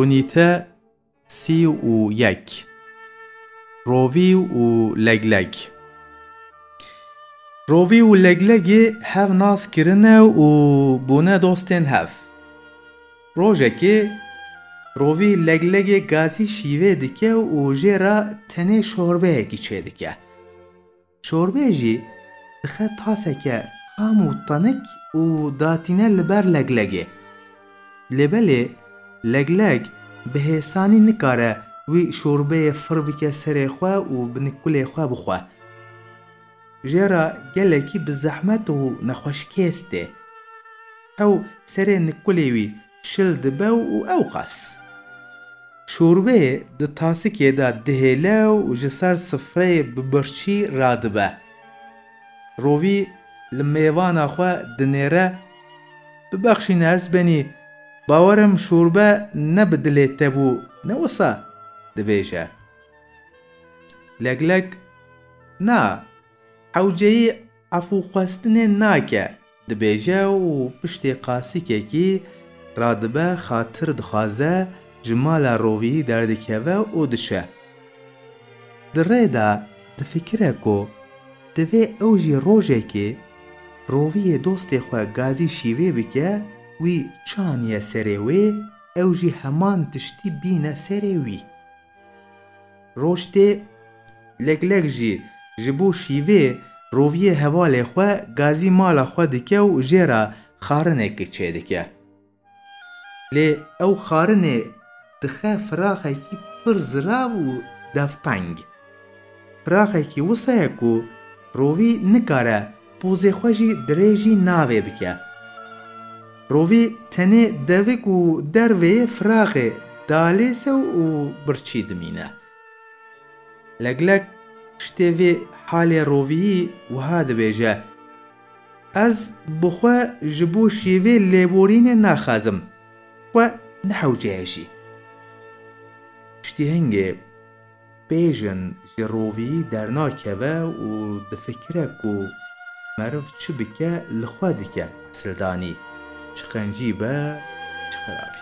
Unîte sî û yek Rovî û legleg Rovî û leglegî hev nas kirine û bûne dostên hev. Rojekê Rovî leglegê gazî şîvê dike û jê re tenê şorbeyekî çêdike. Çorbeyê jî dixe taseke xam û tenik û datîne li ber leglegê. Lê belê legleg bi hêsanî nikare wî çorbeyê fir bike serê xwe û bi nikulê xwe bixwe. Jê re gelekî bi zehmet û nexweşkêz tê. Ew serê nikulê wî Şil dibe û ewqas şorbê di tasikê de dihêle û ji ser sifreyê bi birçî radibe. Rovî li mêvana xwe dinêre, Bibexşîne ezbenî, bawer im şorbe ne bi dilê te bû ne wisa, dibêje. Leglek, Na, hewceyî efûxwestinê nake. Dibêje û piştê qasîkekî radibe xatir dixwaze ji mala roviyî derdikeve û dişe. Di rê de difikire ku divê ew jî rojekê roviyê dostê xwe gazî şîvê bike wî çi aniye serê wê ew jî heman tiştî bîne serê wî. Roj tê leglek jî ji bo şîvê roviyê hevalê xwe gazî mala xwe dike û jê re xarinekê çêdike. Lê ew xarinê dixe firaxekî pir zirav û devteng. Firaxekî wisa ye ku rovî nikare Pozê xwe jî dirêjî navê bike. Rovî tenê devik û dervê firaxê dalêsew û birçî dimîne. Leglek piştê vê halê roviyî wiha dibêje, Ez bi xwe ji bo şêvê lêborînê naxazim, xwe nehewce hejî. Piştî hingê. Pê jin ji roviyî dernakeve û difikire ku meriv çi bike li xwe dike esildanî, çi qencî be, çi xerabî.